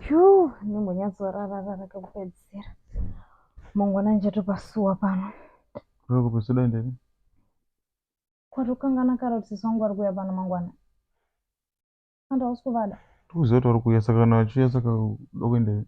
ju ndimbonyatsorararara kekupedzisira mangwana ndichatopasuwa pano Roko pasuda ndini. kwatokangana kare kuti sisi wangu ari kuuya pano mangwana anda hausi kuvada Tukuziva kuti vari kuuya saka kana vachiuya saka uda kuendepi?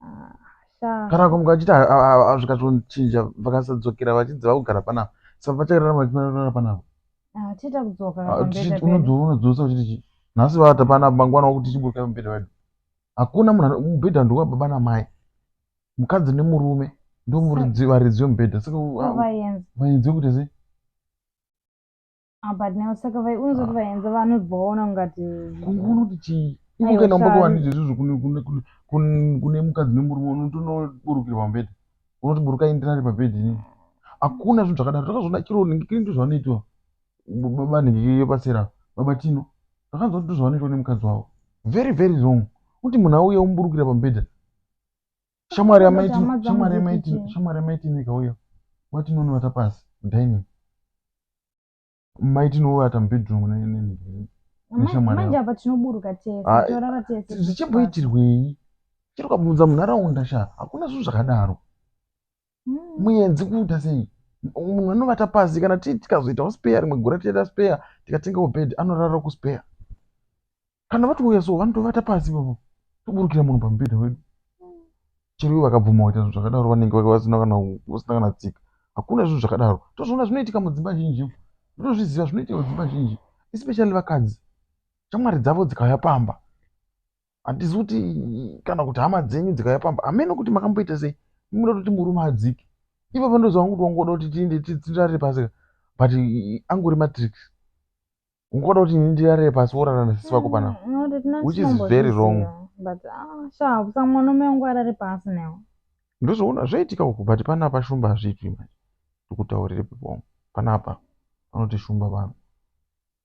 Ah, kana kumuka achiti hazvikatonochinja vakasadzokera vachinzi vakugara panapa sa vachagara vachirara panapa unodzosa uchiti chii nhasi vata panapa mangwana wakuti chiburukai mubhedha wedu hakuna munhu mubhedha ndowa baba namai mukadzi nemurume ndovaridzi vemubhedha saka vainzi vekuti sei Ah, but now saka vaiunza kuti vaenza vanhu vaona ungati kungu unoti chii iko Aiwa, kana umboto shari. handidzo izvozvo kune- kune- kune- kune- kune mukadzi nemurume unotonoburukira pambedha unoti buruka indirari pabhedhi ini hakuna zvinhu zvakadaro takazviona chero ningikiri ndo zvavanoitwa b- baba ningikiri yepatsera baba tino takanzwa kuti ndo zvavanoitwa nemukadzi wavo very very wrong kuti munhu auye omuburukira pambedha shamwari yamaitineka uyo watinonovata pasi dining maitinovata mubedroom manje apa tinoburuka tese ah, torara tese zvichimboitirwei chero kabvunza munharaunda sha hakuna zvinhu zvakadaro mm. muyenzi kuita sei munhu anovata pasi kana tii tikazoitawo speya rimwe gura tichaita speya tikatengawo bed anorara kuspeya kana vatouya so vanotovata pasi vavo toburukira munhu pamubhedha wedu chero ivo vakabvuma kuita zvinhu zvakadaro vanenge vasina kana vasina kana tsika hakuna zvinhu zvakadaro tozviona zvinoitika mudzimba zhinji ndinozviziva zvinoitika mudzimba zhinji especially vakadzi shamwari dzavo dzikauya pamba handizi kuti kana kuti hama dzenyu dzikaya pamba hameno kuti makamboita sei munoda kuti murume adzike ivo vandozova kuti wangoda kuti tiende tirarire pasi but angori matrix ungoda kuti ini ndirarire pasi worara nasisi vako panapa mm, which is very wrong ah, ndozvoona zvaitika uku but panapa shumba hazviitwi manje ndikutaurire pepom panapa vanoti shumba vanhu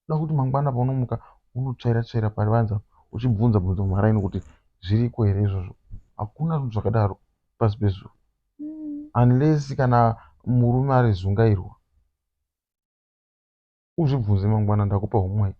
Kuda kuti mangwana paunomuka unotsvaira tsvaira paruvanze apa uchibvunza bvunza mumaraini kuti zviriko here izvozvo. Hakuna zvinhu zvakadaro pasi pezuva. Unless kana murume ari zungairwa. Uzvibvunze mangwana ndakupa homework.